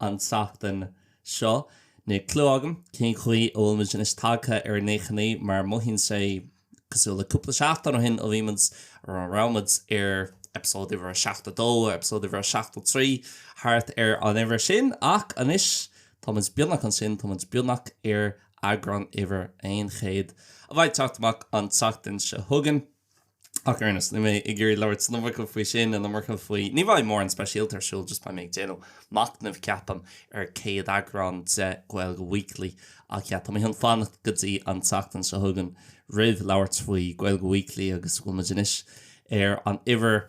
an tseachtain seo. Níl clú agam cén chaoi a bhfuil muid anois tagtha ar nócha naoi mar mothaíonn sé cosúil le cúpla seachtain ó shin a bhí muid, nó a raibh muid, ar eipeasóid uimhir a seachtó dó, eipeasóid uimhir a seachtó trí, thart ar an uimhir sin, ach anois tá muid beagnach ansin, tá muid beagnach ar eagrán uimhir aon chéad a bheidh ag teacht amach an tseachtain seo chugainn. Ach ar aon nós, níl mé ag iarraidh labhairt an iomarca faoi sin, an iomarca faoi. Ní bheidh mórán speisialta ar siúl, just beidh mé ag déanamh machnamh, ceapaim, ar chéad eagrán de Gaeilge Weekly. Ach yeah, tá mé chun fanacht go dtí an tseachtain seo chugainn roimh labhairt faoi Gaeilge Weekly agus bhfuil muid anois ar an uimhir.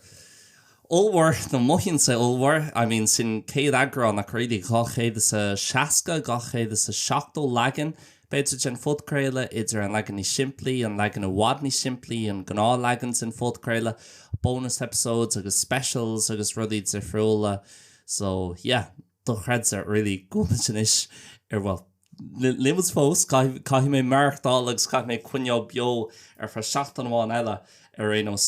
Ollmhór, nó mothaíonn sé ollmhór, I mean sin céad eagrán ach really, dhá chéad is a seasca, dhá chéad is a seachtó leagan, b'fhéidir, den phodchraoladh, idir an leagan níos simplí, an leagan i bhfad níos simplí, an gnáthleagan den phodchraoladh, bonus episodes agus specials agus rudaí difriúla. So, yeah. dochreidte, really, go bhfuil muid anois ar, bhuel, níl muid fós, caithfidh, caithfidh mé maireachtáil agus caithfidh mé coinneáil beo ar feadh seachtain amháin eile, ar aon nós.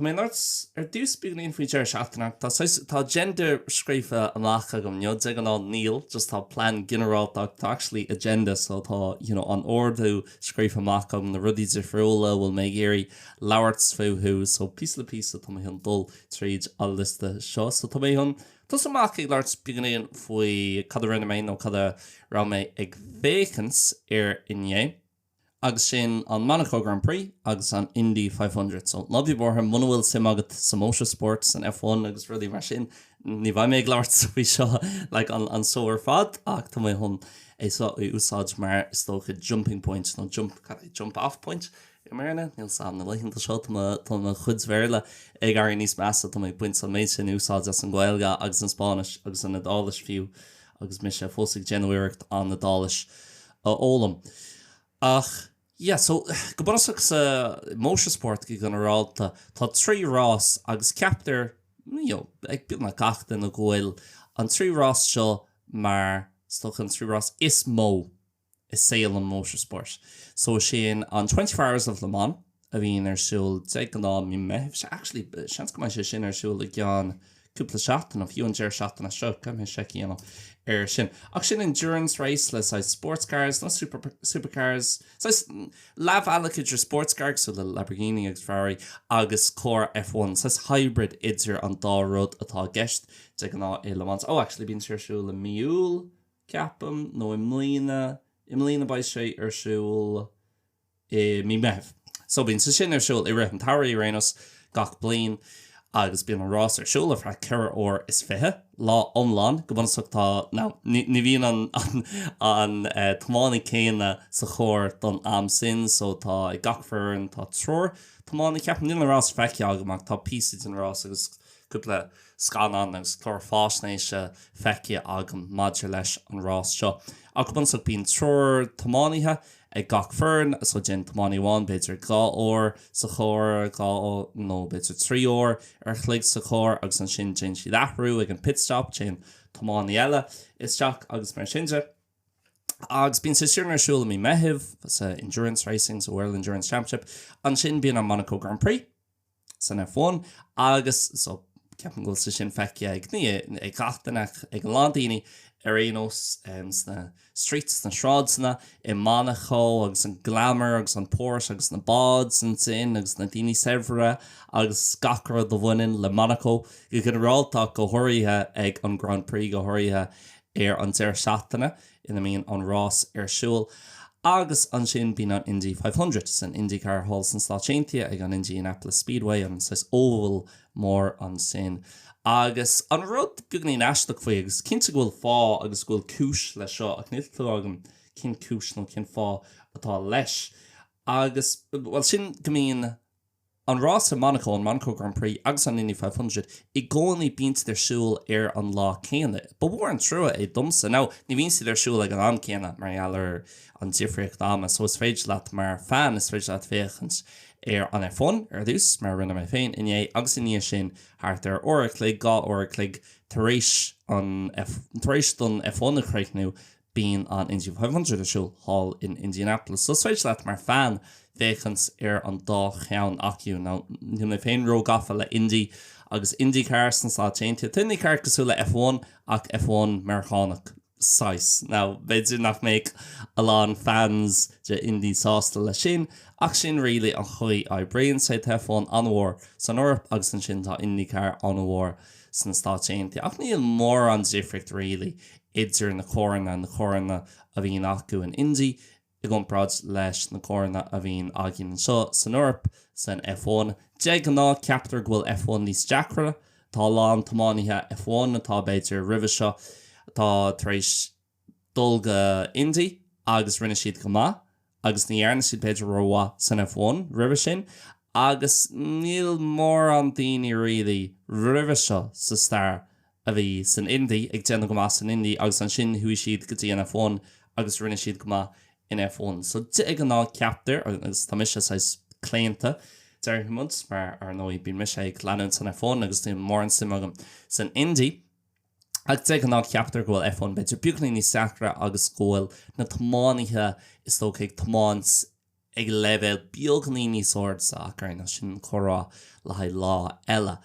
Tá mé chun labhairt ar dtús beagáinín faoi deireadh seachtaine. Tá saghas, tá agenda scríofa amach agam, you know, de ghnáth níl, just tá plean ginearálta ach tá actually agenda, so tá, you know, an ordú scríofa amach agam, na rudaí difriúla a bhfuil mé ag iarraidh labhairt fúthu, so píosa le píosa tá mé chun dul tríd an liosta seo. So tá mé chun tosú amach ag labhairt beagáinín faoi cad a rinne mé nó cad a raibh mé ag féachaint air inné. agus sin an Monaco Grand Prix agus an Indy five hundred. So ná bí buartha muna bhfuil suim agat sa motorsport, san F one agus rudaí mar sin, ní bheidh mé ag labhairt faoi seo like an an seó ar fad ach tá mé chun é seo a úsáid mar is dócha jumping point nó jump cad é jump off point i mBéarna? níl a fhios agam na laethanta seo tá mo tá mo chuid Bhéarla ag éirí níos measa tá mé ag baint an méid sin úsáid as an Ghaeilge agus an Spáinnis agus an Iodáilis fiú agus mise fós ag déanamh iarracht an Iodáilis a fhoghlaim. Ach, yeah, so, go bunúsach sa mhótarspórt go ginearálta, tá trí rás agus ceaptar, you know, ag beagnach gach duine go bhfuil an trí rás seo mar, is dócha, an trí rás is mó i saol an mhótarspóirt. So, sin an Twenty Four Hours of Le Mans, a bhíonn ar siúl de ghnáth mí Meithimh. Sea, actually, seans go mbeidh sé sin ar siúl i gceann cúpla seachtain, nó fiú an deireadh seachtaine seo, caithfidh mé seic a dhéanamh air sin. Ach sin endurance race le saghas sports cars, nó super, supercars, saghas leathbhealach idir sports car, cosúil le Lamborghini agus Ferrari, agus carr F one, saghas hybrid idir an dá rud atá i gceist de ghnáth i Le Mans. Oh, actually, bíonn sé ar siúl i mí Iúil, ceapaim, nó i mbliana, i mbliana beidh sé ar siúl, i mí Meithimh. So bíonn sé sin ar siúl i rith an tsamhraidh ar aon nós gach bliain agus bíonn an rás ar siúl ar feadh ceithre uair is fiche, lá iomlán go bunúsach. Tá, now, ní, ní bhíonn an, an, an tiománaí céanna sa chór don am sin so tá, ag gach foireann tá triúr tiománaí, ceapaim. Níl an rás feicthe agam ach tá píosa den rás agus cúpla scannán agus clár fáisnéise feicthe agam maidir leis an rás seo. Ach go bunúsach bíonn triúr tiománaithe ag gach foireann, so déan tiománaí amháin, b'fhéidir dhá uair sa charr, dhá nó b'fhéidir trí uair ar chloig sa charr agus ansin déan siad athrú ag an pit stop, téann tiománaí eile isteach agus mar sin de. Agus bíonn sé sin ar siúl i mí Meithimh sa endurance racing, sa World Endurance Championship, ansin bíonn an Monaco Grand Prix. san F1 agus so ceapaim go bhfuil sé sin feicthe ag ní, ag gach duine, ag a lán daoine ar aon nós sna streets, sna sráideanna, i Monaco agus an glamour agus an posh agus na báid ansin agus na daoine saibhre agus gach rud a bhaineann le Monaco go ginearálta ach go háirithe ag an Grand Prix go háirithe ar an deireadh seachtaine. ina mbíonn an rás ar siúl. Agus ansin bíonn an Indy Five Hundred san IndyCar thall sna Stáit Aontaithe ag an Indianapolis Speedway, an saghas oval mór ansin. Agus an rud beagainín aisteach faoi, agus is cinnte go bhfuil fáth agus go bhfuil cúis leis seo, ach níl clú agam cén cúis nó cén fáth atá leis, agus, bhuel, sin go mbíonn na. An rás i Monaco, an Monaco Grand Prix, agus an Indy 500, i gcónaí bíonn siad ar siúl ar an lá céanna. Ba mhór an trua é domsa. Now, ní bhíonn siad ar siúl ag an am céanna, mar gheall ar an difríocht ama. So, is féidir leat, mar fan, is féidir leat féachaint ar an F1, ar dtús, mar a rinne mé féin inné, agus i ndiaidh sin, thart ar uair a chloig, dhá uair a chloig, tar éis an, tar éis don F1 a chríochnú, Bíonn an Indy Five Hundred ar siúl thall in Indianapolis, so is féidir leat, mar fan, féachaint ar an dá cheann acu. Now, níl mé féin ró-gafa le Indy agus IndyCar sna Stáit Aontaithe. Tá IndyCar cosúil le F1, ach F1 Meiriceánach, saghas. Now, b'fhéidir nach mbeadh a lán fans de Indy sásta leis sin, ach sin really an chaoi a oibríonn sé. Tá F1 an-mhór san Eoraip, agus ansin tá IndyCar an-mhór sna Stáit Aontaithe, ach níl mórán difríocht really idir na carranna, na carranna a bhíonn acu in Indy i gcomparáid leis na coireanna a bhíonn againn anseo san Eoraip san F1. De ghnáth, ceaptar go bhfuil F1 níos deacra. Tá a lán tiománaithe F1 atá, b'fhéidir, roimhe seo, atá tar éis dul go Indy agus rinne siad go maith. agus ní dhearna siad b'fhéidir rómhaith san F1 roimhe sin agus níl mórán daoine really roimhe seo sa stair a bhí san Indy ag déanamh go maith san Indy agus ansin chuaigh siad go dtí an F1 agus rinne siad go maith in F1 so de ghnáth ceaptar agus tá mise saghas claonta déarfaidh muid mar ar ndóigh bíonn mise ag leanúint an F1 agus níl mórán suim agam san Indy ach de ghnáth ceaptar go bhfuil F1 b'fhéidir beagáinín níos deacra agus go bhfuil na tiománaithe is dócha ag tiomáint ag leibhéal beagáinín níos airde ach ar aon nós sin comhrá le haghaidh lá eile.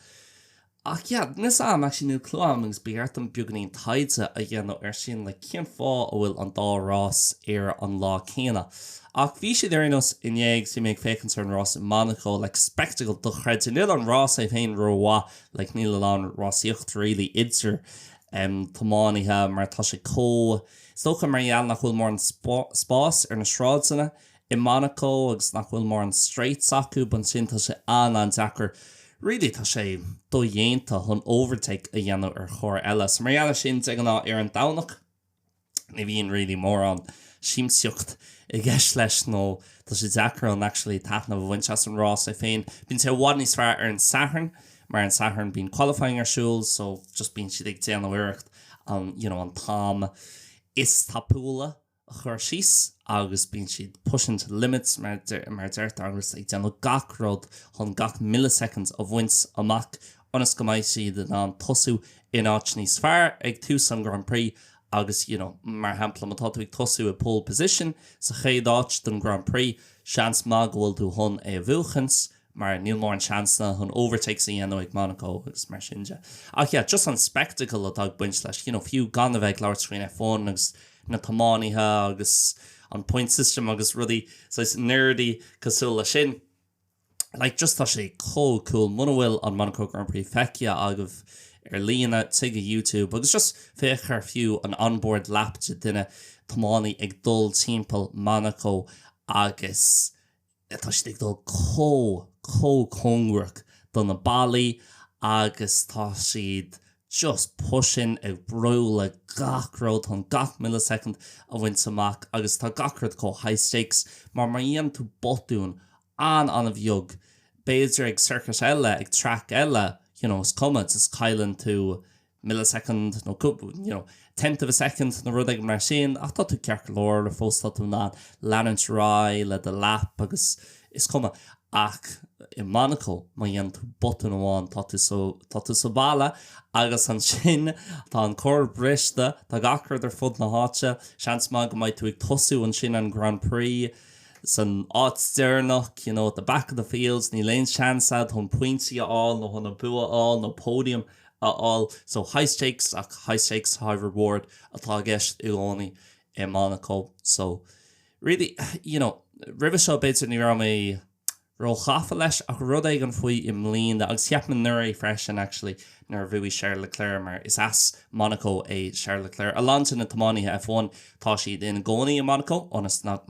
Ach yeah, níl fhios agam, níl clue agam agus b'fhearr dom beagáinín taighde a dhéanamh ar sin le cén fáth a bhfuil an dá rás ar an lá céanna. Ach bhí siad ar aon nós inné agus bhí mé ag féachaint ar an rás i Monaco, like spectacle dochreidte níl an rás é féin rómhaith like níl a lán rásaíocht really idir em tiománaithe mar tá sé chomh is dócha mar gheall nach bhfuil mórán spáis ar na sráideanna i Monaco agus nach bhfuil mórán straights acu but ansin tá sé an-an-deacair really tá sé dodhéanta chun overtake a dhéanamh ar charr eile so mar gheall ar sin de ghnáth ar an Domhnach ní bhíonn really mórán siamsaíocht i gceist leis nó tá sé deacair actually taitneamh a bhaint as an rás é féin. Bíonn sé i bhfad níos fearr ar an Satharn mar an Satharn bíonn qualifying ar siúl so just bíonn siad ag déanamh iarracht an you know, an t-am is tapúla a chur síos agus bíonn siad pushing to the limits mar de- mar a deirtear agus ag déanamh gach rud chun gach milliseconds a bhaint amach ionas go mbeidh siad in ann tosú in áit níos fearr ag tús an Grand Prix agus, you know, mar shampla, má tá tú ag tosú i pole position sa chéad áit don Grand Prix, seans maith go bhfuil tú chun é a bhuachaint mar níl mórán seansanna chun overtakes a dhéanamh ag Monaco agus mar sin de. Ach yeah, just an spectacle atá ag baint leis, you know, fiú gan a bheith ag labhairt faoin F1 agus na tiománaithe agus an point system agus rudaí saghas nerdy cosúil leis sin, like just tá sé chomh cool muna bhfuil an Monaco Grand Prix feicthe agaibh ar líne téigh go YouTube agus just féach ar fiú an onboard lap de dhuine tiománaí ag dul timpeall Monaco agus tá siad ag dul chomh chomh cóngarach do na ballaí agus tá siad just pushing ag brú le gach rud chun gach millisecond a bhaint amach agus tá gach rud chomh high stakes mar má dhéanann tú botún an-an-bheag, b'fhéidir ag circuit eile, ag track eile, you know, is cuma, just cailleann tú millisecond nó cúpla, you know, tenth of a second nó rud éigin mar sin ach tá tú ceart go leor le fós tá tú in ann leanúint ar aghaidh le do lap agus is cuma ach i Monaco má dhéanann tú botún amháin tá tú so, tá tú sa bhalla agus ansin tá an carr briste, tá gach rud ar fud na háite, seans maith go mbeidh tú ag tosú ansin an Grand Prix. san áit deireanach, you know, at the back of the field, níl aon seans agat chun pointí a fháil nó chun an bua a fháil nó podium a fháil. So high stakes ach high stakes, high reward atá i gceist i gcónaí i Monaco. So really, you know, roimhe seo b'fhéidir ní raibh mé, róghafa leis ach rud éigin faoi i mbliana agus cheap mé nuair é freisin actually nuair a bhuaigh Charles Leclerc mar is as Monaco é Charles Leclerc a lán de na tiománaithe F1 tá siad ina gcónaí i Monaco ionas nach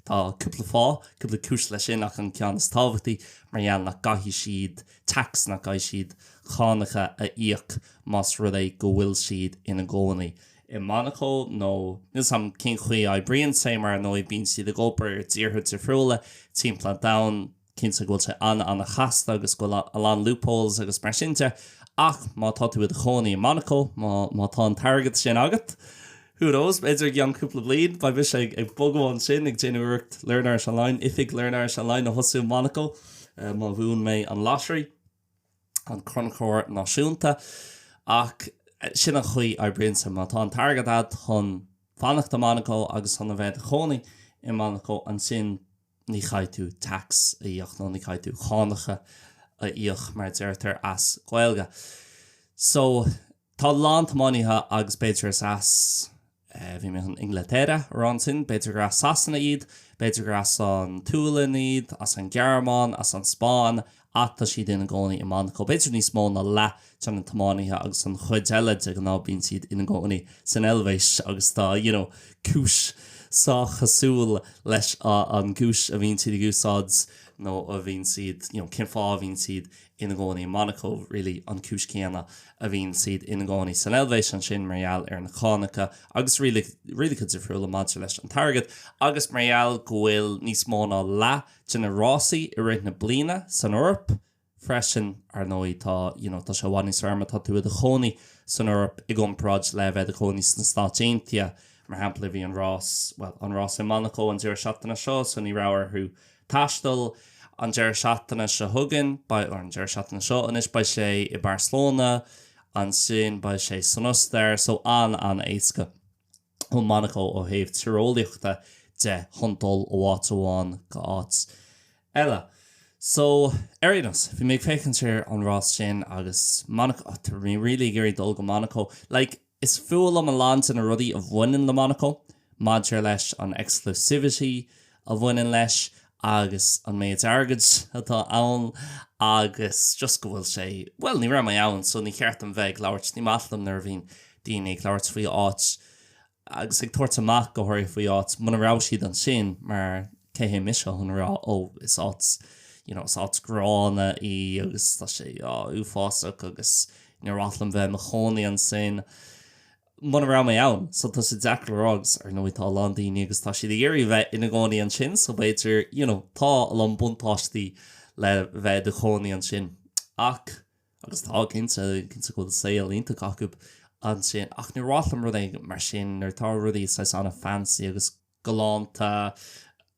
tá cúpla fáth cúpla cúis leis sin ach an ceann is tábhachtaí mar gheall nach gcaithfidh siad tax nach gcaithfidh siad cánacha a íoc más rud é go bhfuil siad ina gcónaí i i Monacó nó níl mé cinnte cén chaoi a oibríonn sé? Ar ndóigh, bíonn siad ag obair i dtíortha difriúla timpeall an domhain. Cinnte go bhfuil sé an-an-chasta agus go bhfuil a lán loopholes agus mar sin de ach má tá tú i do chónaí i Monacó, má tá an t-airgead sin agat, who knows, b'fhéidir i gceann cúpla bliain beidh mise ag bogadh ansin ag déanamh iarracht Learn Irish Online, oifig Learn Irish Online a thosú i Monacó má bhuaim mé an lottery. an Crannchur Náisiúnta, ach sin an chaoi a oibríonn sé. Má tá an t-airgead agat chun fanacht i Monaco agus chun a bheith i do chónaí i Monaco, ansin ní chaithfidh tú tax a íoc, nó ní chaithfidh tú cánacha a íoc, mar a deirtear as Gaeilge. So. Tá a lán tiománaithe agus b'fhéidir is as, bhí mé chun Inglaterra a rá ansin, b'fhéidir gur as Sasana iad, b'fhéidir gur as an tSualainn iad, as an Ghearmáin, as an Spáinn, ach tá siad ina gcónaí i Monacó. B'fhéidir níos mó ná leath de na tiománaithe agus an chuid eile, de ghnáth bíonn siad ina gcónaí san Eilvéis agus tá, you know, cúis sách chosúil leis an gcúis a bhíonn siad ag úsáid nó a bhíonn siad, you know, cén fáth a bhíonn siad ina gcónaí i Monacó, really, an chúis chéanna a bhíonn siad ina gcónaí san Eilvéis ansin mar gheall ar na cánacha agus rialacha difriúla maidir leis an t-airgead agus mar gheall go bhfuil níos mó ná leath de na rásaí i rith na bliana san Eoraip freisin. Ar ndóigh, tá, you know, tá sé i bhfad níos fearr má tá tú i do chónaí san Eoraip i gcomparáid le a bheith i do chónaí sna Stáit Aontaithe. Mar shampla, bhí an rás, bhuel, an rás i Monacó an deireadh seachtaine seo so ní raibh orthu, Taisteal. An deireadh seachtaine seo chugainn, beidh, or an deireadh seachtaine seo, anois, beidh sé i Barcelona, ansin beidh sé san Ostair, so an-an-éasca ó Monaco ó thaobh tíreolaíochta de chun dul ó áit amháin go háit eile. So, ar aon nós, bhí mé ag féachaint ar an rás sin agus Monaco, tá mé really ag iarraidh dul go Monaco, like, Is fuath liom a lán de na rudaí a bhaineann le Monaco, maidir leis an exclusivity a bhaineann leis agus an méid airgid atá ann agus just go bhfuil sé, bhuel, ní raibh mé ann so ní ceart dom bheith ag labhairt, ní maith liom nuair a bhíonn daoine ag labhairt faoi áit agus ag tabhairt amach go háirithe faoi áit muna raibh siad ansin mar, Cé mise chun a rá, ó, is áit, you know, is áit ghránna í agus tá sé, á, uafásach agus níor mhaith liom bheith i mo chónaí ansin muna raibh mé ann. So tá sé deacair le rá agus ar ndóigh tá a lán daoine agus tá siad ag iarraidh bheith ina gcónaí ansin so b'fhéidir, you know, tá a lán buntáistí le bheith i do chónaí ansin. Ach, agus tá cinnte, cinnte go bhfuil saol iontach acu ansin ach níor mhaith liom rud éigin mar sin nuair atá rudaí saghas an-fancy agus galánta.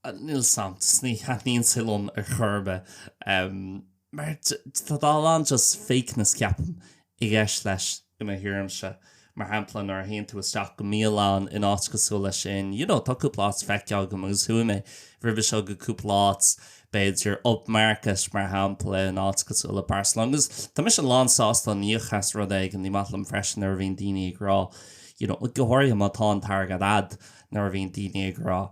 Níl 'fhios a'm, ní thaitníonn sé liom ar chor ar bith. Mar tá a lán just fakeness, ceapaim, i gceist leis i mo thuairimse. Mar shampla, nuair a théann tú isteach go mbialann in áit cosúil leis sin, you know, tá cúpla áit feicthe agam agus chuaigh mé roimhe seo go cúpla áit, b'fhéidir Up Market, mar shampla, in áit cosúil le Barcelona. Agus tá mise lán sásta chun íoc as rud éigin, ní maith liom freisin nuair a bhíonn daoine ag rá, you know, go háirithe má tá an t-airgead a'd, nuair a bhíonn daoine ag rá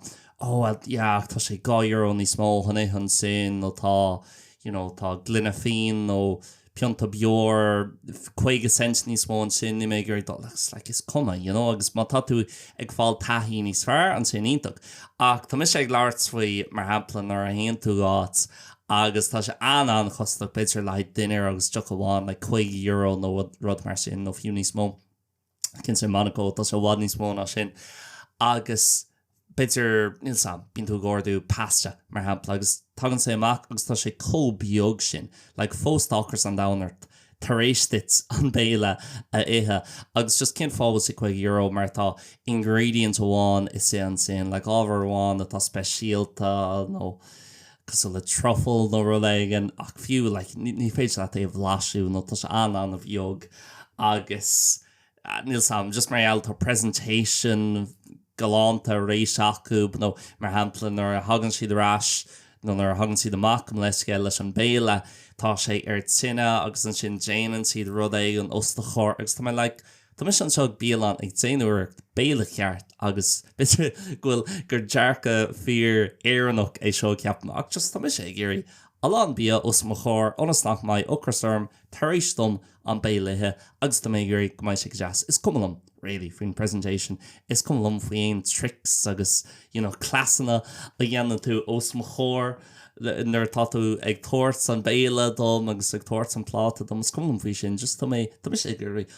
Oh well yeah ach tá sé dhá euro níos mó chun ithe ansin nó tá you know tá gloine fíon nó pionta beoir caoga cent níos mó ansin níl mé ag dul agus like is cuma you know agus má tá tú ag fáil taithí níos fearr ansin iontach ach tá mise ag labhairt faoi mar shampla nuair a théann tú go áit agus tá sé an-an-chostasach b'fhéidir le haghaidh dinnéar agus deoch amháin like caoga euro nó rud mar sin nó fiú níos mó. Cinnte, Monaco, tá sé i bhfad níos mó ná sin. Agus b'fhéidir, níl 'fhios a'm, bíonn tú ag ordú pasta, mar shampla, agus tagann sé amach agus tá sé chomh beag sin, like, fós tá ocras an domhain ort tar éis duit an béile a ithe. Agus just cén fáth a bhfuil sé €50 mar tá ingredient amháin éigin ansin, like, ábhar amháin atá speisialta nó. cosúil le truffle nó rud éigin, ach fiú, like, ní, ní féidir leat é a bhlaiseadh nó tá sé an-an-bheag agus, níl 'sam, just mar gheall, tá presentation galánta arís acu nó, mar shampla, nuair a thagann siad ar ais nó nuair a thagann siad amach gabh mo leithscéal leis an béile, tá sé ar tine agus ansin déanann siad rud éigin os do chomhair agus tá mé like, Tá mise anseo ag bialann ag dinnéireacht béile ceart agus b'fhéidir go bhfuil gur dearcadh fíor Éireannach é seo ceapaim ach just tá mise ag iarraidh a lán bia os mo chomhair ionas nach mbeidh ocras orm tar éis dom an béile a ithe agus tá mé ag iarraidh go mbeidh sé go deas. Is cuma liom really faoin presentation, is cuma liom faoi aon tricks agus you know cleasanna a dhéanann tú os mo chomhair nuair atá tú ag tabhairt an béile dom agus ag tabhairt an pláta dom, is cuma liom faoi sin just tá mé, tá mise ag iarraidh.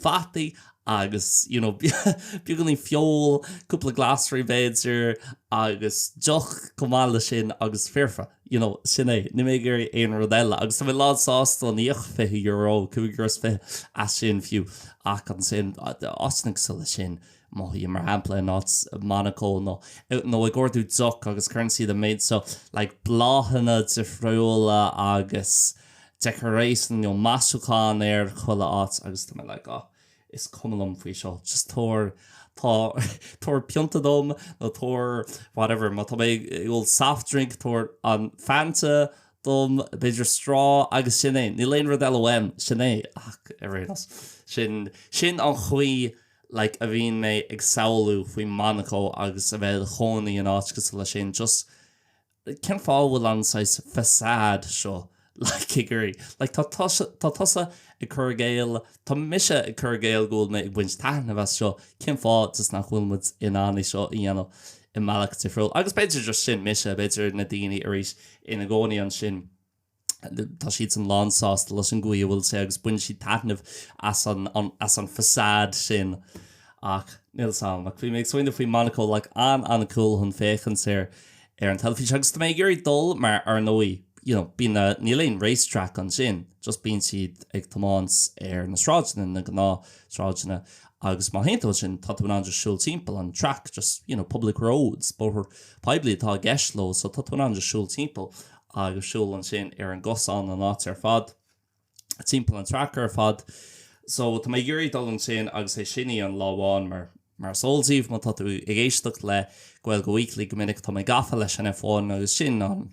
fataí agus you know beagáinín feoil, cúpla glasraí b'fhéidir, agus deoch chomh maith leis sin agus foirfe. You know, sin é. Níl mé ag iarraidh aon rud eile. Agus tá mé lán sásta íoc €20, €25 as sin fiú. Ach ansin, ós rud é leis sin, má théim mar shampla in áit Monaco you know ag ordú deoch agus cuireann siad an méid seo like bláthanna difriúla agus Decoration, you know, maisiúchán ar chuile áit agus tá mé like, oh, is cuma liom faoi seo, just tabhair, tá, tabhair pionta dom nó tabhair whatever, má tá mé ag ól soft drink, tabhair an Fanta dom, b'fhéidir straw agus sin é, níl aon rud eile uaim, sin é ach ar aon nós, sin, sin an chaoi like a bhíonn mé ag samhlú faoi Monaco agus a bheith i do chónaí in áit cosúil leis sin, just. cén fáth a bhfuil an saghas façade seo like a gcur i gcéill, like, tá tusa ag cur i gcéill, tá mise ag cur i gcéill go bhfuil mé ag baint taitnimh as seo, cén fáth just nach bhfuil muid in ann é seo a dhéanamh i mbealach difriúil? Agus b'fhéidir just sin mise, b'fhéidir na daoine arís ina gcónaí ansin, Tá siad sin lán sásta leis an gcaoi a bhfuil sé agus baineann siad taitneamh as an as an facade sin. Ach nílimse. Ach bhí mé ag smaoineamh faoi Monaco, like an-an-chool chun féachaint ar ar an teilifís agus tá mé ag iarraidh dul mar ar ndóigh you know bíonn na níl aon race track ansin just bíonn siad ag tiomáint ar na sráideanna, na gnáth sráideanna agus má théann tú ansin tá tú in ann just siúl timpeall an track just you know public roads, bóthar poiblí atá i gceist leo so tá tú in ann just siúl timpeall agus siúl ansin ar an gcosán an áit ar fad, timpeall an track ar fad. So, tá mé ag iarraidh dul ansin agus é sin a dhéanamh lá amháin mar, mar is eol daoibh má tá tú ag éisteacht le Gaeilge Weekly go minic, tá mé gafa leis an F1 agus sin an,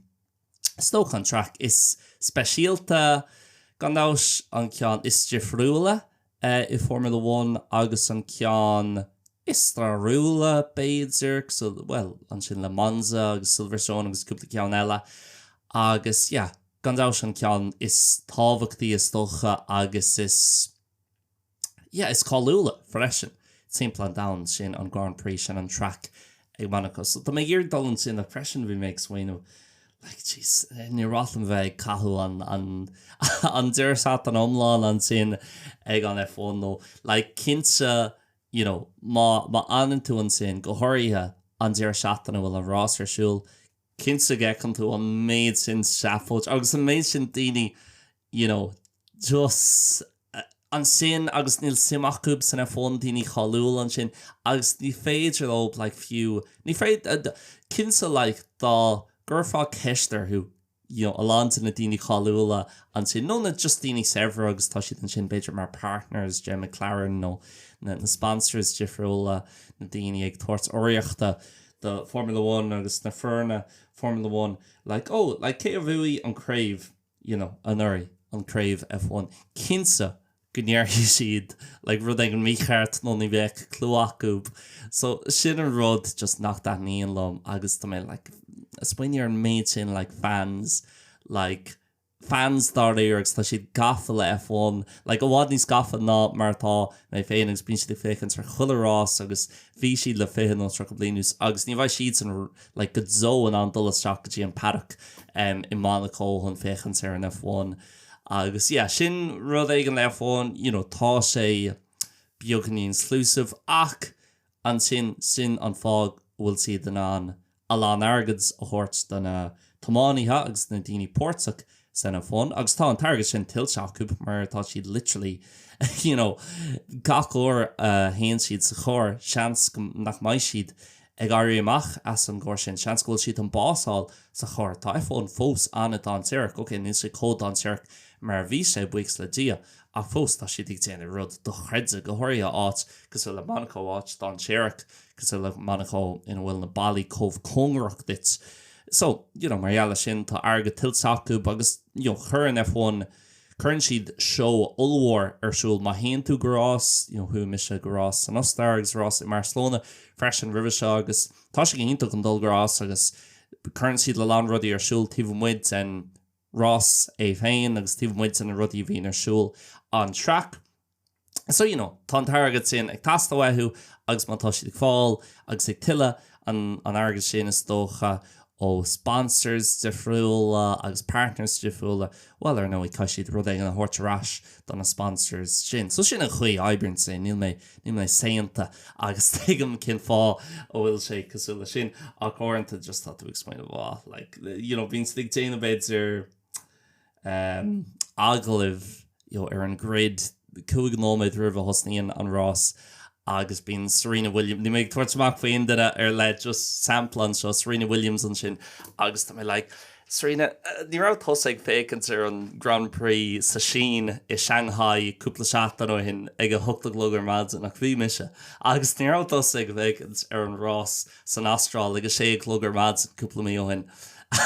is dócha an track is speisialta, gan dabht an ceann is difriúla i Formula One agus an ceann is stairiúla, b'fhéidir, bhuel, ansin le Monza agus Silverstone agus cúpla ceann eile agus, yeah, gan dabht an ceann is tábhachtaí, is dócha, agus is, yeah, is cáiliúla freisin timpeall an domhain, sin an Grand Prix, sin an track ag Monaco. So tá mé ag iarraidh dul ansin ach freisin bhí mé ag smaoineamh like jeez níor mhaith liom bheith ag caitheadh an an an deireadh seachtaine iomlán ansin ag an F1 nó like cinnte you know má má fhanann tú ansin go háirithe an deireadh seachtaine a bhfuil an rás ar siúl cinnte go bhfeiceann tú an méid sin seafóid agus an méid sin daoine you know, just ansin agus níl suim acu san F1 na daoine cáiliúla ansin agus ní féidir leo like fiú ní féid cinnte like dá gcuirfeá ceist orthu you know, a lán de na daoine cáiliúla ansin nó na just daoine saibhre agus tá siad ansin b'fhéidir mar partners do McLaren nó na, na sponsors difriúla na daoine ag tabhairt urraíochta do Formula One agus na foirne Formula One like oh like cé a bhuaigh an craobh you know anuraidh, an craobh F1, cinnte go ndéarfaidh siad like rud éigin mícheart nó ní bheadh clue acu so sin an rud just nach dtaitníonn liom agus tá mé like ag smaoineamh ar an méid sin like fans like fans dáiríre agus tá siad gafa le F1 like i bhfad níos gafa ná mar atá mé féin agus bíonn siad ag féachaint ar chuile rás agus bhí siad le fiche nó tríocha bliain anuas agus ní bheidh siadsan like go deo in ann dul isteach go dtí an Paddock i Monaco chun féachaint ar an F1 agus yeah sin rud éigin le F1 you know tá sé beagáinín exclusive ach ansin sin an fáth a bhfuil siad in ann a lán airgid a thabhairt do na tiománaithe agus do na daoine páirteach san F1, agus tá an t-airgead sin tuillte acu mar tá siad literally you know gach uair a théann siad sa charr, seans go, nach mbeidh siad ag éirí amach as an gcarr sin, seans go bhfuil siad chun bás a fháil sa charr. Tá F1 fós an-dainséarach, ok, níl sé chomh dainséarach mar a bhí sé, buíochas le Dia, ach fós tá siad ag déanamh rud dochreidte, go háirithe áit cosúil le Monaco, áit dainséarach cosúil le Monaco ina bhfuil na ballaí chomh cóngarach duit. so, you know mar gheall ar sin, tá airgead tuillte acu agus, you know cuireann F1, cuireann siad show ollmhór ar siúl. Má théann tú go rás, you know chuaigh mise go rás san Ostáir agus rás i mBarcelona freisin roimhe seo agus tá sé go hiontach ag dul go rás agus cuireann siad a lán rudaí ar siúl taobh amuigh den rás é féin agus taobh amuigh de na rudaí a bhíonn ar siúl an track. So, you know, tá an t-airgead sin ag teastáil uathu agus má tá siad ag fáil agus ag tuilleadh an airgid sin is dócha ó sponsors difriúla agus partners difriúla, bhuel, ar ndóigh, caithfidh siad rud éigin a thabhairt ar ais do na sponsors sin. So sin an chaoi a oibríonn sé, níl mé, níl mé saonta agus tuigim cén fáth a bhfuil sé cosúil leis sin ach uaireanta just tá tú ag smaoineamh, oh, like, you know, bíonn siad ag déanamh idir, agallamh ar an grid cúig nóiméad roimh a thosaíonn an rás agus bíonn Serena Williams, níl mé ag tabhairt amach faoi aon duine ar leith just sampla anseo, Serena Williams ansin agus tá mé like Serena ní raibh tusa ag féachaint ar an Grand Prix sa Sín i Shanghai cúpla seachtain ó shin ag a hocht a chlog ar maidin ach bhí mise agus ní raibh tusa ag féachaint ar an rás san Astráil agus é ag a sé a chlog ar maidin cúpla mí ó shin.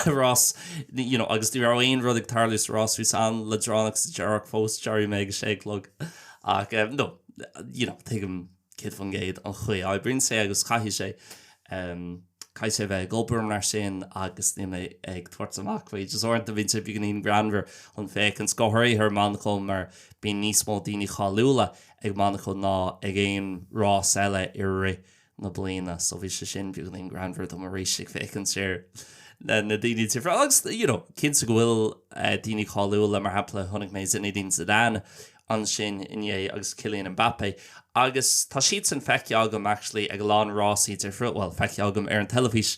Rás you know agus ní raibh aon rud ag tarlú sa rás, bhí sé an-leadránach sa deireadh ach fós d'éirigh mé ag a sé a chlog. Ach em no you know tuigim céad faoin gcéad an chaoi a oibríonn sé agus caithfidh sé em caithfidh sé a bheith ag obair mar sin agus níl mé ag tabhairt amach faoi just uaireanta bíonn sé beagáinín greannmhar chun féachaint go háirithe ar Monacó mar bíonn níos mó daoine cáiliúla ag Monacó ná ag aon rás eile i rith na bliana. So bhí sé sin beagáinín greannmhar dom arís ag féachaint ar na daoine difriúla agus, you know, cinnte go bhfuil daoine cáiliúla, mar shampla, chonaic mé Zinedine Zidane ansin inné agus Kylian Mbappé agus tá siadsan feicthe agam, actually, ag a lán rásaí difriúla, bhuel, feicthe agam ar an teilifís.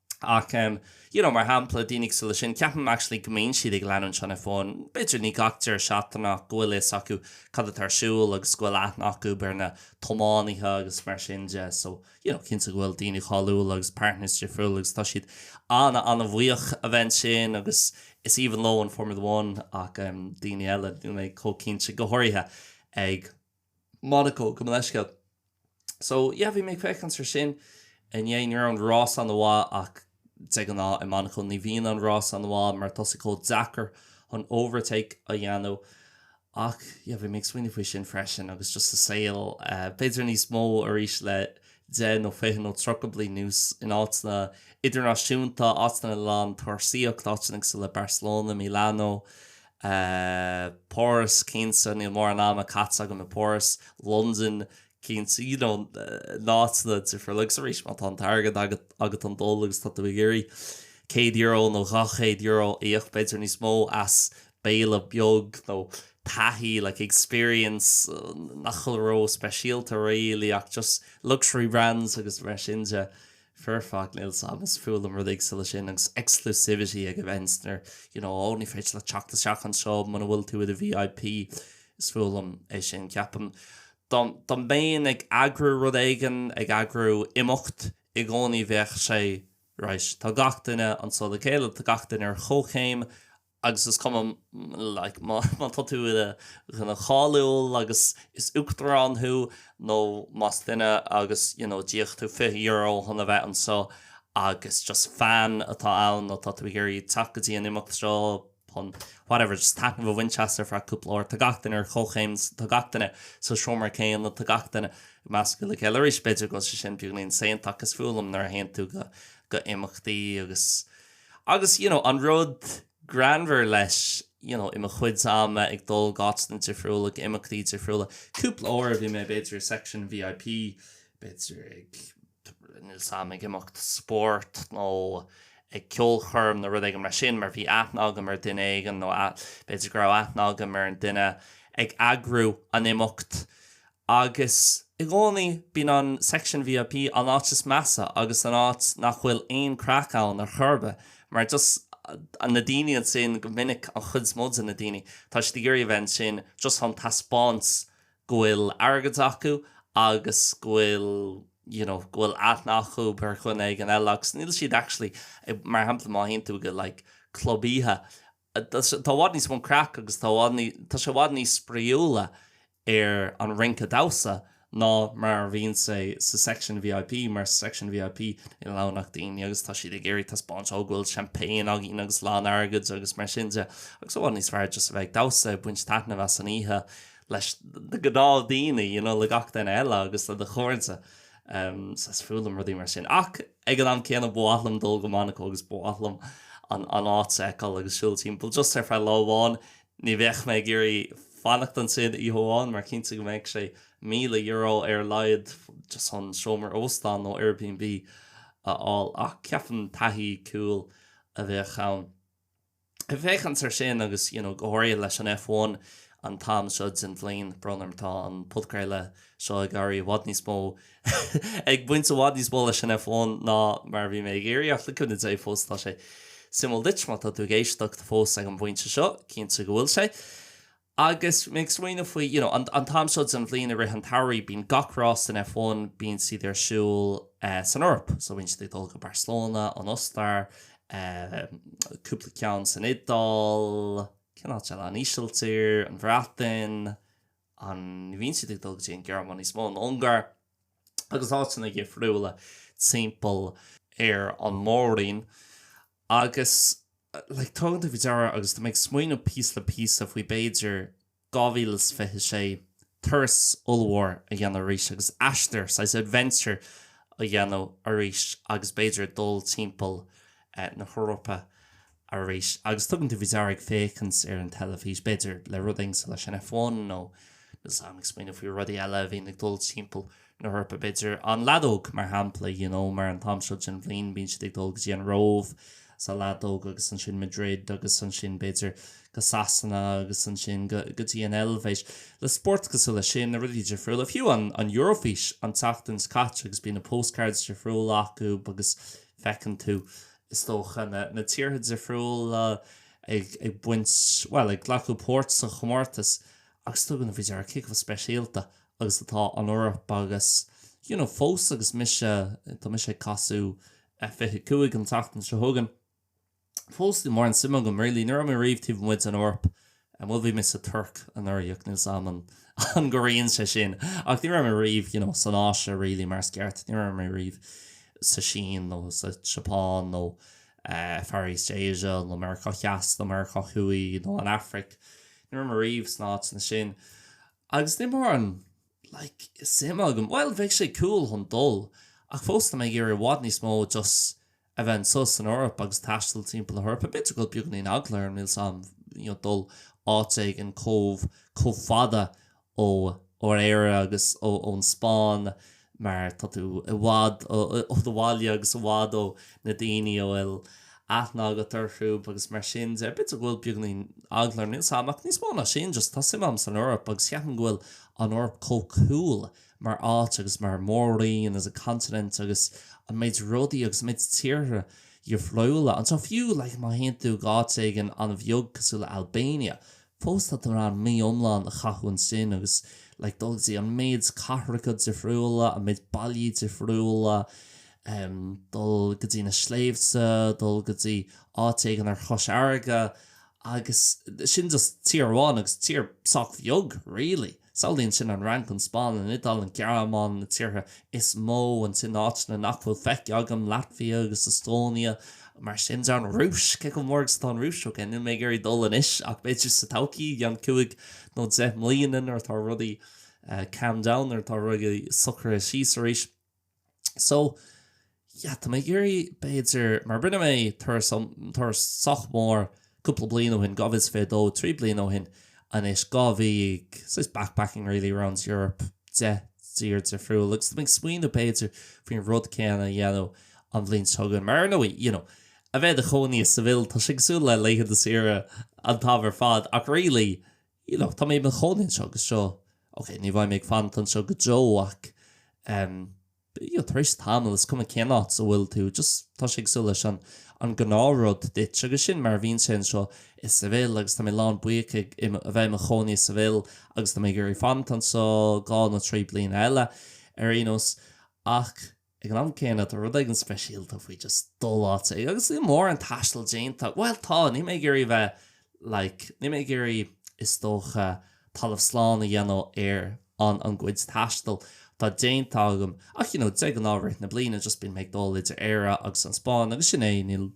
Ach, you know, mar shampla, daoine cosúil leo sin, ceapaim actually go mbíonn siad ag leanúint an F1, b'fhéidir ní gach deireadh seachtaine ach go bhfuil fhios acu cad atá ar siúl agus go bhfuil aithne acu ar na tiománaithe agus mar sin de. So, you know, cinnte go bhfuil daoine cáiliúla agus partners difriúla agus tá siad ana, ana bhuíoch a bheith ansin agus is aoibhinn leo an Formula One ach daoine eile, níl mé chomh cinnte, go háirithe ag. Monaco, gabh mo leithscéal. So, yeah, bhí mé ag féachaint ar sin inné, ní raibh an rás an-mhaith ach de ghnáth i Monaco ní bhíonn an rás an-mhaith mar tá sé chomh deacair chun overtake a dhéanamh ach, yeah, bhí mé ag smaoineamh faoi sin freisin agus just sa saol, b'fhéidir níos mó arís le deich nó fiche nó tríocha bliain anuas in áiteanna idirnáisiúnta, áiteanna le a lán turasóireacht, áiteanna cosúil le Barcelona, Milano, eh Páras, cinnte, níl mórán ama caite agam i bPáras, Londain, cinnte, you know, na áiteanna difriúla agus arís má tá an t-airgead agat, agat chun dul agus tá tú ag iarraidh céad euro nó dhá chéad euro a íoc, b'fhéidir níos mó as béile beag nó taithí, like, experience, nach bhfuil ró-speisialta really ach just luxury brands agus mar sin de. foirfe ach níl sé domsa, is fuath liom rudaí cosúil leis sin agus exclusivity ag events nuair you know oh ní féidir leat teacht isteach anseo muna bhfuil tú i do VIP is fuath liom é sin ceapaim. Dá dá mbeinn ag eagrú rud éigin, ag eagrú imeacht i gcónaí bheadh sé right tá gach duine anseo le chéile, tá gach duine ar chomhchéim agus is cuma má tá tú i do dhuine cáiliúil agus is uachtarán thú nó más duine agus you know d'íoc tú fiche euro chun a bheith anseo agus just fan atá ann nó tá tú ag iarraidh teacht go dtí an imeacht seo chun whatever just taitneamh a bhaint as ar feadh cúpla uair tá gach duine ar chomhchéim tá gach duine sa seomra céanna tá gach duine i measc go le chéile arís b'fhéidir go bhfuil sé sin beagáinín insane agus is fuath liom nuair a théann tú go go imeachtaí agus Agus, you know, an rud greannmhar leis, you know, i mo chuidse ama ag dul go áiteanna difriúla, go imeachtaí difriúla, cúpla uair a bhí mé b'fhéidir i section VIP, b'fhéidir ag, níl 's a'm, ag imeacht spóirt nó ag ceolchoirm nó rud éigin mar sin mar bhí aithne agam ar duine éigin nó b'fhéidir go raibh aithne agam ar an duine ag eagrú an imeacht Agus i gcónaí, bíonn an Section VIP an áit is measa agus an áit nach bhfuil aon craic ann ar chor ar bith, mar just na daoine ansin, go minic, an chuid is mó de na daoine, tá siad ag iarraidh a bheith ansin just chun taispeáint go bhfuil airgead acu agus go bhfuil, you know, go bhfuil aithne acu ar dhuine éigin eile agus níl siad actually, mar shampla, má théann tú go like club oíche, Tá sé i bhfad níos mó craic agus tá tá sé i bhfad níos spraíúla ar an rince damhsa ná mar a bhíonn sé sa section VIP mar sa section VIP níl ann ach daoine agus tá siad ag iarraidh taispeáint ó go bhfuil champagne againn agus lán airgid agus mar sin de agus i bhfad níos fearr just a bheith ag damhsa baint taitneamh as an oíche leis na gnáth daoine you know le gach duine eile agus le do chairde um, so is fuath liom rudaí mar sin ach Ag an am céanna, ba mhaith liom dul go Monaco agus ba mhaith liom an áit a fheiceáil agus siúl timpeall, just ar feadh lá amháin. Ní bheadh mé ag iarraidh fanacht ansin oíche amháin mar cinnte go mbeadh sé míle euro ar a laghad just chun seomra óstáin nó Airbnb a fháil ach ceapaim taithí cool a bheadh ann. Ag féachaint ar sin agus you know go háirithe leis an F1 an t-am seo den bhliain, brón orm, tá an podchraoladh seo ag éirí i bhfad níos mó ag baint i bhfad níos mó leis an F1 ná mar a bhí mé ag iarraidh ach le cúnamh Dé fós tá sé suimiúil duit má tá tú ag éisteacht fós ag an bpointe seo, cinnte go bhfuil sé. Agus mé ag smaoineamh faoi, you know, an t-am seo den bhliain i rith an tsamhraidh, bíonn gach rás san F1, bíonn siad ar siúl san Eoraip. So bíonn siad ag dul go Barcelona, an Ostair, cúpla ceann san Iodáil, cén áit eile? An Ísiltír, an Bhreatain, an mbíonn siad ag dul go dtí an Ghearmáin níos mó? An Ungáir? agus áiteanna difriúla timpeall ar an Mór-roinn agus like tugann tú faoi deara agus tá mé ag smaoiniú píosa le píosa faoi b'fhéidir 2026 turas ollmhór a dhéanamh arís agus aistear saghas adventure a dhéanamh arís agus b'fhéidir dul timpeall na hEorpa arís. Agus tugann tú faoi deara ag féachaint ar an teilifís, b'fhéidir, le rud éigin cosúil leis an F1 nó níl 's a'm, ag smaoineamh faoi rudaí eile a bhíonn ag dul timpeall na hEorpa, b'fhéidir, an leadóg, mar shampla, you know, mar an t-am seo den bhliain, bíonn siad ag dul go dtí an Róimh sa leadóg agus ansin Madrid agus ansin, b'fhéidir, go Sasana agus ansin go, go dtí an Eilvéis, le spóirt cosúil leis sin, na rudaí difriúla. Fiú an, an Eurofís an tseachtain seo caite agus bíonn na postcards difriúla acu agus feiceann tú, is dócha, na tíortha difriúla ag baint, bhuel, ag glacadh páirt sa chomórtas agus tugann tú faoi deara cé chomh speisialta agus atá an Eoraip agus, you know, fós agus mise, tá mise ag casadh fiche cúig an tseachtain seo chugainn, fós níl mórán suime agam really, ní raibh mé riamh taobh amuigh den Eoraip. Bhuel bhí mé sa Tuirc anuraidh, ach níl 's a'm an an gcomhaireann sé sin. Ach ní raibh mé riamh, you know, san Áise really mar is ceart. Ní raibh mé riamh sa Sín nó sa tSeapáin nó eh Far East Asia nó Meiriceá Theas nó Meiriceá Thuaidh nó an Afraic. Ní raibh mé riamh sna áiteanna sin. Agus níl mórán like suim agam, bhuel bheadh sé cool chun dul ach fós tá mé ag iarraidh i bhfad níos mó just, a bheith anso san Eoraip agus taisteal timpeall na hEorpa, b'fhéidir go bhfuil beagáinín eagla orm, níl 's a'm, you know, dul áit éigin comh, comh fada ó, ón Éire agus ó, ón Spáinn mar tá tú i bhfad ó, ó do bhaile agus i bhfad ó na daoiní a bhfuil aithne agat orthub agus mar sin de. B'fhéidir go bhfuil beagáinín eagla orm, níl 's a'm ach níos mó ná sin just tá suim a'm san Eoraip agus ceapaim go bhfuil an Eoraip comh cool mar áit agus mar mhór-roinn as a continent agus an méid rudaí agus an méid tíortha difriúla atá. Fiú like má théann tú go háit éigin an-bheag cosúil le Albania, fós tá tú in ann mí iomlán a chaitheamh ansin agus like dul go dtí an méid cathracha difriúla, an méid bailí difriúla, em dul go dtí na sléibhte, dul go dtí áit éigin ar chois farraige Agus sin just tír amháin, agus tír sách bheag, really. Samhlaigh ansin an Fhrainc, an Spáinn, an Iodáil, an Ghearmáin, na tíortha is mó, ansin áiteanna nach bhfuil feicthe agam, Laitvia agus Estonia, mar sin de, an Rúis, cé chomh mór agus atá an Rúis, ok, níl mé ag iarraidh dul anois, ach b'fhéidir sa todhchaí, i gceann cúig nó deich mbliana, nuair atá rudaí calmed down, nuair atá rudaí socraithe síos arís. So, yeah, tá mé ag iarraidh, b'fhéidir, mar rinne mé turas um, turas sách mór cúpla bliain ó shin, dhá mhíle is fiche a dó, trí bliain ó shin, anois, dhá mhí ag, just backpacking really around Europe, deich dtír difriúil, agus tá mé ag smaoineamh, b'fhéidir, faoin rud céanna a dhéanamh an bhliain seo chugainn, mar ar ndóigh, you know, a bheith i do chónaí i Seville, tá sé cosúil le laethanta saoire an t-am ar fad, ach really, Síleadh, tá mé i mo chónaí anseo agus seo, ok, ní bheidh mé ag fanacht anseo go deo ach em you know tar éis tamaill is cuma cén áit a bhfuil tú just tá sé cosúil leis an an gnáthrud duit agus sin mar a bhíonn sé anseo i Seville agus tá mé lán buíoch a bheith i mo chónaí i Seville agus tá mé ag iarraidh fanacht anso go ceann trí bliana eile ar aon nós ach Ag an am céanna, tá rud éigin speisialta faoi just dul áit éigin agus níl mórán taistil déanta, bhuel tá, níl mé ag iarraidh bheith like, níl mé ag iarraidh is dócha talamh slán a dhéanamh ar an an gcuid taistil atá déanta agam ach you know de ghnáth i rith na bliana just bíonn mé ag dul idir Éire agus an Spáinn agus sin é, níl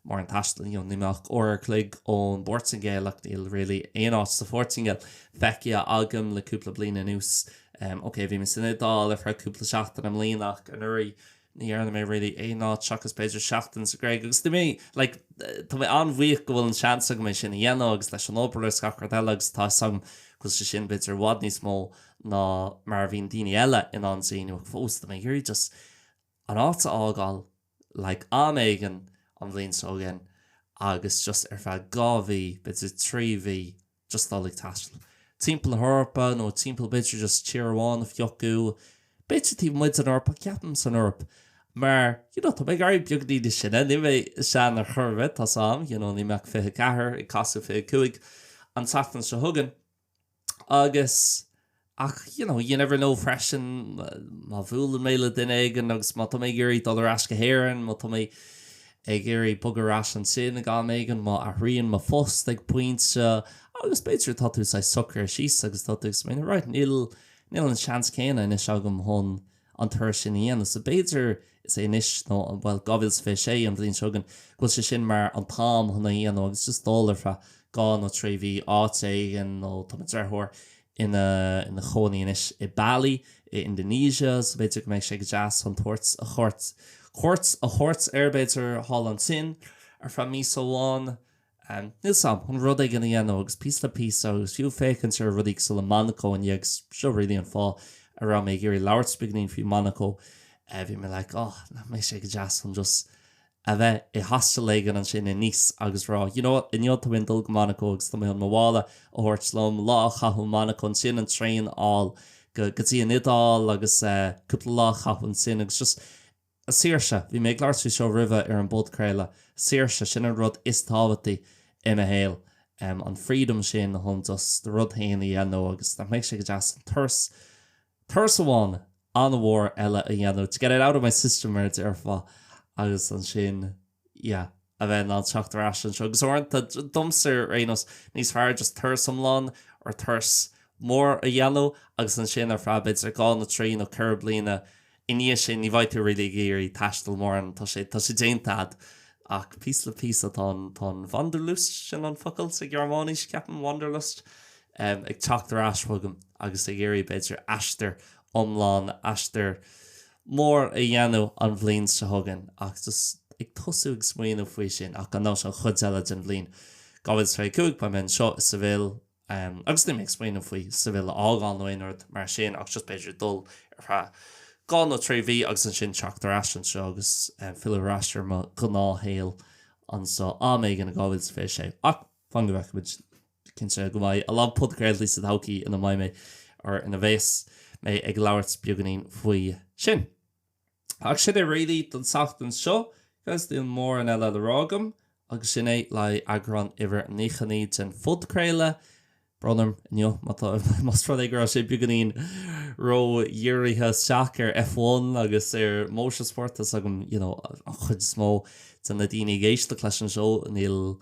Mórán taistil, tá mé like uair a chloig ón bPortaingéil ach níl really aon áit sa Phortaingéil feicthe agam le cúpla bliain anuas. Ok, bhí mé san Iodáil ar feadh cúpla seachtain i mbliana ach anuraidh ní dhearna mé really aon áit seachas b'fhéidir seachtain sa Ghréig agus bhí mé like tá mé an-bhuíoch go bhfuil an seans agam é sin a dhéanamh agus leis an obair is gach rud eile agus tá 'fhios agam go bhfuil sé sin b'fhéidir i bhfad níos mó ná mar a bhíonn daoine eile in ann déanamh ach fós tá mé ag iarraidh just an áit a fhágáil like am éigin an bhliain seo chugainn agus just ar feadh dhá mhí, b'fhéidir trí mhí just dul ag taisteal timpeall na hEorpa nó timpeall b'fhéidir just tír amháin a phiocadh, b'fhéidir taobh amuigh den Eoraip ach ceapaim san Eoraip mar you know tá mé ag éirí beagainín níos sine, níl mé sean ar chor ar bith, tá 's a'm, you know níl mé ach fiche ceathair ag casadh fiche cúig an tseachtain seo chugainn. agus, ach, you know, you never know freisin, má bhuaileann mé le duine éigin agus má tá mé ag iarraidh dul ar ais go hÉirinn, má tá mé ag iarraidh bogadh ar ais ansin ag am éigin, má athraíonn mo phost ag pointe agus b'fhéidir tá tú saghas socraithe síos agus tá tú ag smaoineamh, right, níl an seans céanna anois agam chun an turas sin a dhéanamh. So b'fhéidir, is é anois nó, bhuel, 2026, an bhliain seo chugainn, go bhfuil sé sin mar an t-am chun é a dhéanamh agus just dul ar feadh dhá nó trí mhí áit éigin, nó tá mo dheartháir ina, ina chónaí anois i Bali, i Indonesia, so b'fhéidir go mbeidh sé go deas chun tabhairt cuairt, cuairt a thabhairt air, b'fhéidir, thall ansin ar feadh míosa amháin. Níl 's a'm chun rud éigin a dhéanamh agus píosa le píosa agus fiú féachaint ar rudaí cosúil le Monaco inniu agus seo really an fáth a raibh mé ag iarraidh labhairt beagainín faoi Monaco. Bhí mé like oh, nach mbeidh sé go deas chun just a bheith i hostel éigin ansin i Nice agus rá you know what, inniu tá mé ag dul go Monaco agus tá mé chun mo mhála a thabhairt liom, lá a chaitheamh i Monaco, ansin an traein a fháil go dtí an Iodáil agus cúpla lá a chaitheamh ansin agus just. An tsaoirse, bhí mé ag labhairt faoi seo roimhe ar an bpodchraoladh. Saoirse, sin an rud is tábhachtaí i mo shaol, an freedom sin chun just do rud féin a dhéanamh agus nach mbeidh sé go deas an turas, turas amháin an-mhór eile a dhéanamh, to get it out of my system mar a déarfá agus ansin, yeah a bheith in ann teacht ar ais anseo. Agus uaireanta, domsa ar aon nós, tá sé níos fearr just turas iomlán or turas mór a dhéanamh agus ansin ar feadh b'fhéidir dhá nó trí nó ceithre bliana i ndiaidh sin ní bheidh tú really ag iarraidh taisteal mórán, tá sé, tá sé déanta agat. Ach píosa le píosa tá an, tá an Wanderlust, sin an focal sa Ghearmáinis ceapaim, Wanderlust, ag teacht ar ais chugam agus ag iarraidh b'fhéidir aistear iomlán, aistear mór a dhéanamh an bhliain seo chugainn ach just ag tosú ag smaoineamh faoi sin ach ar aon nós an chuid eile den bhliain 2025 beidh mé anseo i Seville agus níl mé ag smaoineamh faoi Seville a fhágáil nó aon rud mar sin ach just b'fhéidir dul ar feadh dhá nó trí mhí agus ansin teacht ar ais anseo agus filleadh ar ais ar mo ghnáthshaol anseo am éigin in 2026 ach fan go bhfeicfidh muid. Is cinnte go mbeidh a lán podchraoltaí sa todhchaí ina mbeidh mé, or ina bheas mé, ag labhairt beagáinín faoi sin. Ach sin é really don tseachtain seo, guys. Níl mórán eile le rá agam agus sin é le haghaidh eagrán uimhir a 99 den phodchraoladh. Brón orm inniu má tá, más rud é go raibh sé beagáinín ró-dhírithe isteach ar F1 agus ar motorsport. Tá a fhios agam, you know, an chuid is mó de na daoine ag éisteacht leis an seó, níl,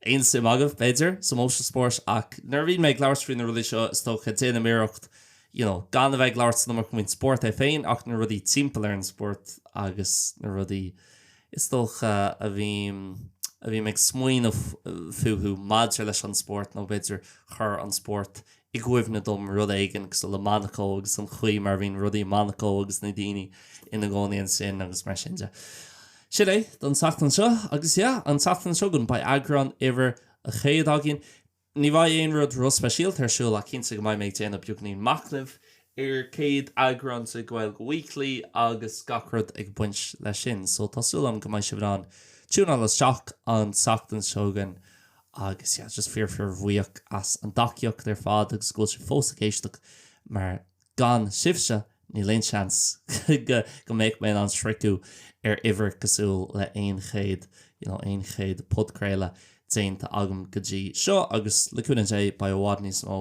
aon suim agaibh, b'fhéidir, sa motorsport, ach nuair a bhíonn mé ag labhairt faoi na rudaí seo, is dócha, déanaim iarracht, you know, gan a bheith ag labhairt san iomarca faoin spórt é féin ach na rudaí timpeall ar an spórt agus na rudaí, is dócha, a bhím, a bhím ag smaoineamh fúthu maidir leis an spórt nó, b'fhéidir, chuir an spórt i gcuimhne dom rud éigin cosúil le Monaco agus an chaoi mar a bhíonn rudaí i Monaco agus na daoine ina gcónaí ansin agus mar sin de. Sin é don tseachtain seo agus, yeah, an tseachtain seo chugainn beidh eagrán uimhir a 100 againn. Ní bheidh aon rud ró-speisialta ar siúl ach cinnte go mbeidh mé ag déanamh beagáinín machnaimh ar 100 eagrán de Gaeilge Weekly agus gach rud ag baint leis sin. So tá súil agam go mbeidh sibh in ann tiúineáil isteach an tseachtain seo chugainn agus yeah just fíor fíor bhuíoch as an dtacaíocht ar fad agus go bhfuil sibh fós ag éisteacht mar gan sibhse níl aon seans go mbeadh mé in ann sroicheadh ar uimhir cosúil le aon chéad you know aon chéad podchraoladh déanta agam go dtí seo agus le cúnamh Dé beidh i bhfad níos mó